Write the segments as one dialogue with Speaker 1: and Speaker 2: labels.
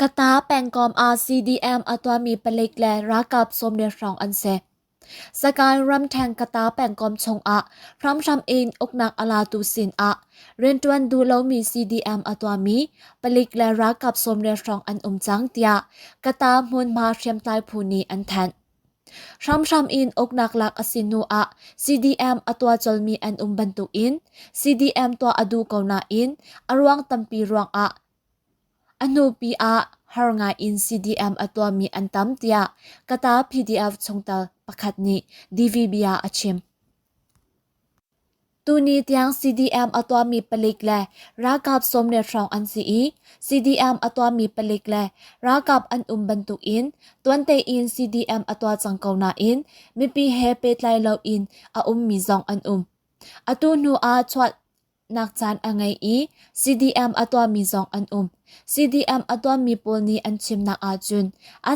Speaker 1: Kata pengkom ah CDM a tuahmi palik le ralkap sawmriat hrawng an si. Sagaing ramṭhen Kata pengkom chungah hramhram in uknak a latu sinah rianṭuan duh lomi CDM a tuahmi palik le ralkap sawmriat hrawng an um cang, tiah Kata hmunhma hriamtlai phu nih an thanh. Hramhram in uknak lak a si hnu ah CDM a tuah colmi an um bantukin CDM tuah a duh ko nain a ruang tampi ruangah a hnupi ah har ngaiin CDM a tuahmi an tam tiah Kata PDF chungtel pakhat nih DVB ah a chim. Tuni tiang CDM a tuahmi palik le ralkap sawm le hrawng an si i CDM a tuahmi palik le ralkap an um bantukin tuan tein CDM a tuah cang ko nain mipi he pehtlai loin a ummi zong an um. Atu hnu ah chuahnak caan a ngei i CDM a tuahmi zong an um. CDM a tuahmi pawl nih an chimnak ahcun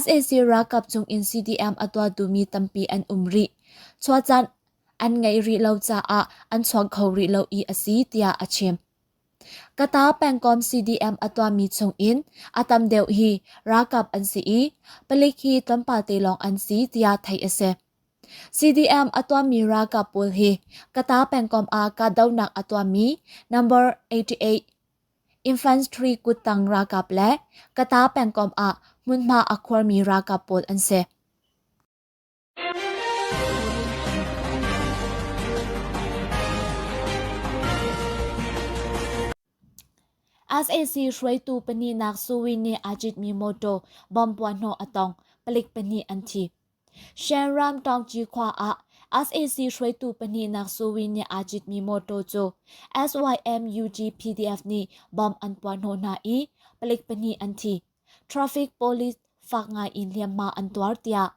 Speaker 1: sac ralkap cungin CDM a tuah duhmi tampi an um rih. Chuah caan an ngeih rih lo caah an chuang kho rih lo i a si tiah a chim. Kata pengkom CDM a tuahmi chungin a tam deuh hi ralkap an si i palik hi tlawmpal te lawng an si tiah theih a si. CDM a tuahmi ralkap pawl hi Kata pengkom ah kahdohnak a tuahmi number 88 Infantry kuttang ralkap le Kata pengkom ah hmunhma a khuarmi ralkap pawl an si. SAC hruaitu pahnih nak Suwi nih aa citmi mawtaw bom puahhnawh a tong, palik pahnih an thi. Shanram Tawngci khua ah SAC hruaitu pahnih nak Suwi nih aa citmi mawtaw cu SYM UGPDF nih bom an puahhnawh hna i palik pahnih an thi. Traffic police fak ngai in hliamhma an tuar tiah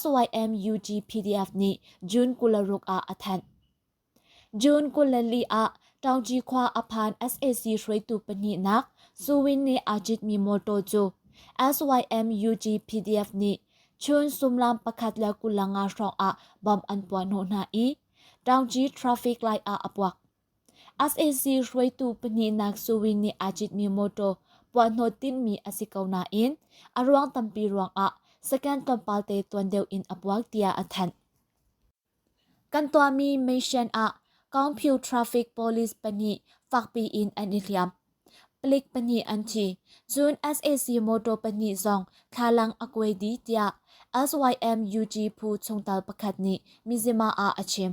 Speaker 1: SYMUG-PDF nih June kul ruk ah a thanh. June kul le li ah Ṭangṭi khua a phan sac hruaitu pahnihnak Suwin nih aa citmi mawṭaw cu SYMUG-PDF nih chun sumlam pakhat le kulang nga hrawng ah bomb an puah hnawh hna i Ṭangṭi traffic light ah a puak. SAC hruaitu pahnihnak Sui nih aa citmi mawṭaw puahhnawh timhmi a si ko nain a ruang tampi ruangah second tlawmpalte tuan deuh in a puak tiah a thanh. Kan tuahmi mission ah Kongpyu traffic police pahnih fakpi in an i hliam. Palik pahnih an thi, cun SAC mawṭaw pahnih zong thlalang a kuai dih tiah SYMUG phu chungtel pakhat nih Mizzima ah a chim.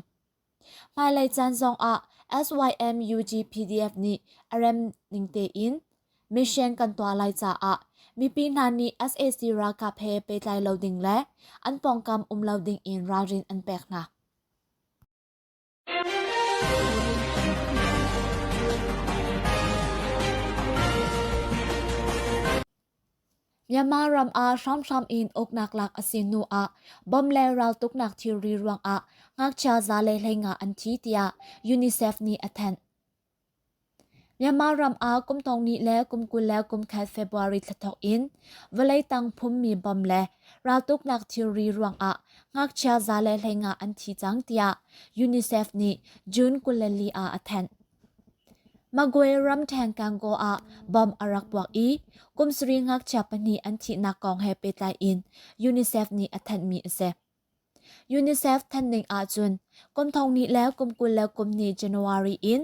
Speaker 1: Hmailei caan zongah SYMUGPDF nih a rem ning tein mission kan tuah lai caah mipi hna nih sac ralkap he pehtlai lo ding le an pawngkam um lo ding in ralrin an pek hna. Myanmar ram ah hramhram in uknak lak a si hnu ah bom le raltuknak thilri ruangah ngakchia zale hlei nga an thi tiah UNICEF nih a thanh. Myanmar ram ah kum thong ni le kum kul le kum khat February thla thok in vawlei tang phummi bom le raltuknak thilri ruangah ngakchia zale hlei nga an thi cang tiah UNICEF nih June kul le li ah a thanh. Magway ramṭheng Kangaw ah bom a rak puak i kumsarih ngakchia pahnih an thihnak kong he pehtlai in UNICEF nih a thanhmi a si. UNICEF thanhning ahcun kum thong hnih le kum kul le kum hnih January in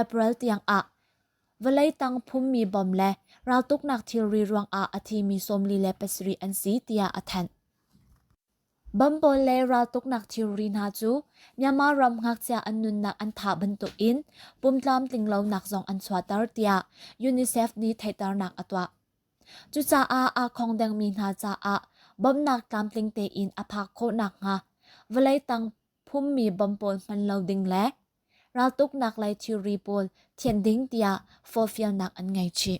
Speaker 1: April tiang ah vawlei tang phummi bom le raltuknak thilri ruangah a thimi sawmli le pasarih an si tiah a thanh. Bam pawl le raltuknak thilri hna cu Myanmar ram ngakchia an nunnak an tha bantuk in pumtlam tlinglonak zong an chuahter tiah UNICEF nih theihternak a tuah. Cucaah aa khong dengmi hna caah bawmhnak tlamtling tein a phak khawh nakhnga vawlei tang phummi bom pawl hman lo ding le raltuknak lei thilri pawl thianh ding tiah forfialnak an ngei chih.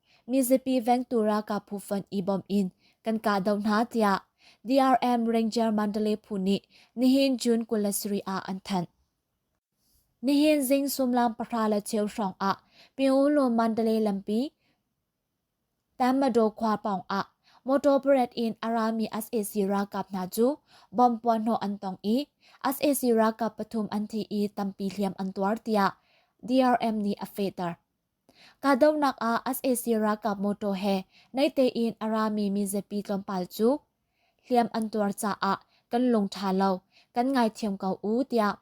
Speaker 1: mizapi vengtu ralkap phu fund i bawmh in kan kahdoh hna tiah DRM Ranger Mandalay phu nih nihin June kul le sarih ah an thanh. Nihin zing sumlam pahra le cheu hrawng ah Pyongyang Mandalay lampi Tamado khua pawng ah motor parade in a rami SAC ralkap hna cu bomb puanhnawh an tong i SAC ralkap pathum an thi i tampi hliam an tuar tiah DRM nih a fehter. Kahdohnak ah sac ralkap motor he naitein a rami mizapi tlawmpal cu hliam an tuar caah kan lung ṭha lo, kan ngaithiam ko u tiah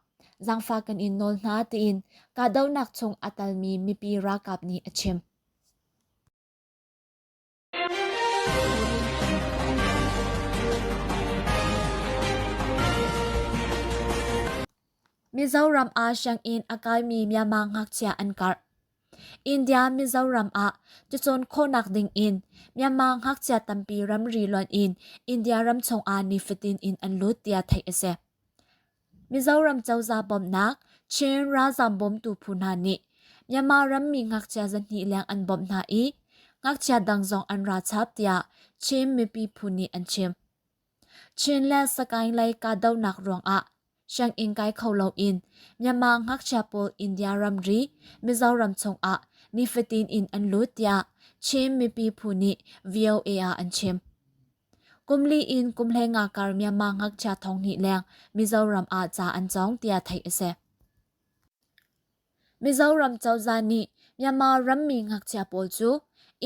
Speaker 1: zangfah kan in nawl hna tiin kahdohnak chung a talmi mipi ralkap nih a chim. Mizoram ah sianginn a kaimi Myanmar ngakchia an karh. India Mizoram ah cucun khawhnak ding in Myanmar ngakchia tampi ramri luan in India ram chung ah nifatin in an lut tiah theih a si. Mizoram cozah bawmhnak Chin ralzaam bawmtu phu hna nih Myanmar rammi ngakchia zahnih leng an bawmh hna i ngakchia dang zong an ra chap tiah Chin mipi phu nih an chim. Chin le Sagaing lei kahdohnak ruangah sianginn kai kho loin Myanmar ngakchia pawl India ramri Mizoram chungah nifatin in an lut tiah Chin mipi phu nih VOA ah an chim. Kumli in kum le nga kar Myanmar ngakchia thong nih leng Mizoram ah ca an cawng tiah theih a si. Mizoram cozah nih Myanmar rammi ngakchia pawl cu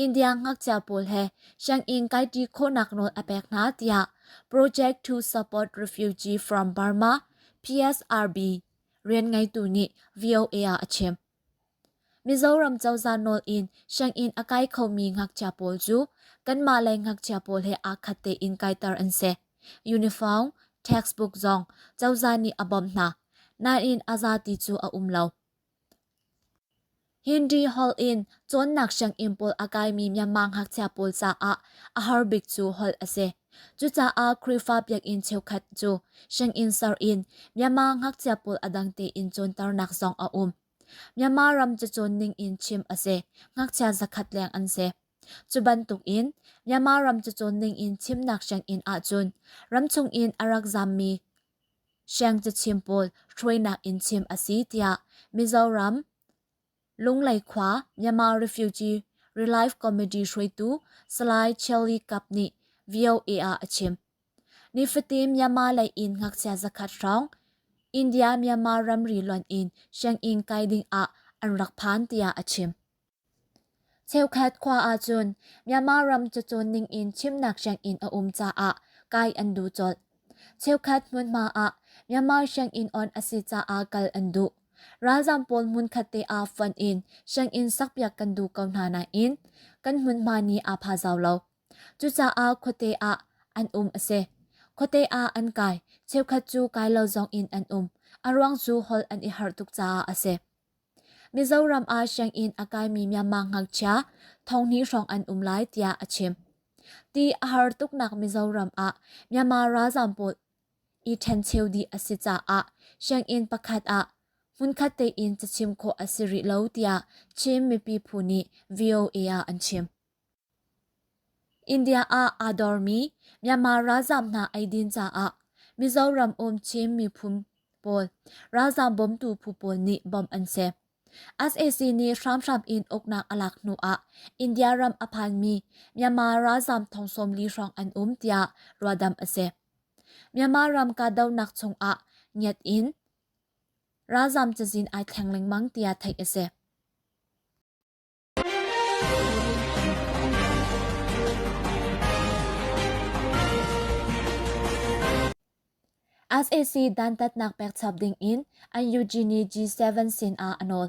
Speaker 1: India ngakchia pawl he sianginn kaiṭi khawhnak nawl a pek hna tiah Project to Support Refugee from Burma (PSRB) rian ngeitu nih VOA ah a chim. Mizoram cozah nawl in sianginn a kai khomi ngakchia pawl cu kanmah lei ngakchia pawl he aa khat tein kaiter an si. Uniform, textbook zong cozah nih a bawmh hna, nain a zati cu a um lo. Hindi holh in cawnnak sianginn pawl a kaimi Myanmar ngakchia pawl caah a har bik cu holh a si. Cucaah Khrihfa biakinn cheukhat cu sianginn ser in Myanmar ngakchia pawl a dang tein cawnternak zong a um. Myanmar ram cu cawn ning in chim a si. Ngakchia zakhat leng an si. Cu bantuk in Myanmar ram cu cawn ning in chimnak sianginn ahcun ramchung in a rak zammi siangcachim pawl hruainak in chim a si tiah Mizoram Lunglei khua Myanmar Refugee Relief Committee hruaitu Salai Shirley Cup nih VOA ah a chim. Nifatin Myanmar lei in ngakchia zakhat hrawng India-Myanmar ramri lonh in sianginn kai ding ah an rak phan tiah a chim. Cheukhat khua ahcun Myanmar ram cacawn ningin chimnak sianginn a um caah kai an duh colh. Cheukhat hmunhma ah Myanmar sianginn on a si caah kal an duh. Ralzam pawl hmunkhat te ah fonh in sianginn sakpiak kan duh ko hna nain kan hmunhma ni aa phazau lo. Cucaah khuate ah an um a si. Khuate ah an kai. Cheukhat cu kai lo zong in an um. A ruang cu holh an i harh tuk caah a si. Mizoram ah sianginn a kaimi Myanmar ngakchia thonghni hrawng an um lai tiah a chim. Ti a har tuknak Mizoram ah Myanmar ralzaam pawl i ṭhencheu dih a si caah sianginn pakhat ah hmunkhat tein cachim khawh a si rih lo tiah Chin mipi phu nih VOA ah an chim. India ah aa dormi Myanmar ralzaam hna eidin caah Mizoram um Chin miphun pawl ralzaam bawmtu phu pawl nih bawmh an si. SAC nih hramhram in uknak a lak hnu ah India ram a phanmi Myanmar ralzaam thong sawmli hrawng an um tiah ruahdamh a si. Myanmar ram kahdohnak chungah ngiat in ralzaam cazin ai thleng lengmang tiah theih a si. sac dantatnak pekchap dingin an eugenie g7 sinah a nawl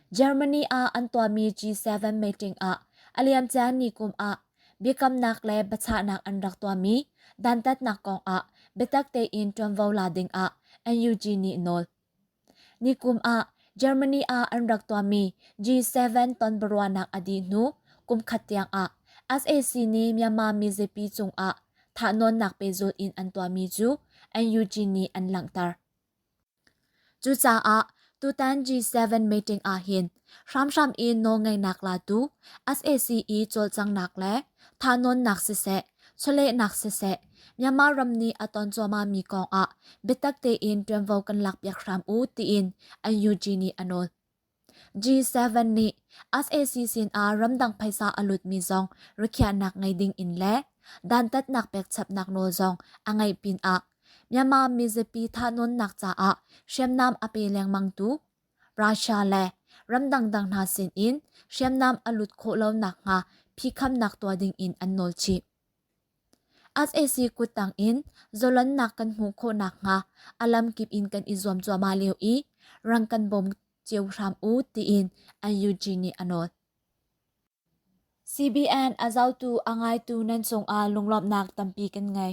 Speaker 1: germany ah an tuahmi g7 meeting ah a liamcia ni kum ah biakamnak le biachahnak an rak tuahmi dantatnak kongah biatak tein ṭuanvo la dingah an eugenie nawl Nikum ah Germany ah an rak tuahmi G7 tonbiaruahnak a dih hnu kumkhat tiangah sac nih Myanmar mizapi cungah thahnawnnak pehzulh in an tuahmi cu NUG nih an langhter. Cucaah tutan G7 meeting ahhin hramhram i nawlngeihnak la tu sac i cawlcanghnak le thanuannak siseh chawlehnak siseh Myanmar ram nih a ton cuahmah mi kong ah biatak tein ṭuanvo kan lakpiak hram u tiin NUG nih a nawl. G7 nih sac sin ah ramdang phaisa a lut mi zong rikhiahnak ngei ding in le dantatnak pekchapnak nawl zong a ngeih pin ah Myanmar mizapi thanuannak caah hriamnam a pe lengmang tu Russia le ram dangdang hna sinin hriamnam a lut khawh lo nakhnga phikhamnak tuah dingin an nawl chih. SAC kuttang in zolonnak kan hmuh khawh nakhnga a lamkip in kan i zuam cuahmah lio i rang kan bawm cio hram u tiin NUG nih a nawl. CBN a zautu a ngaitu nan cungah lunglawmhnak tampi kan ngei.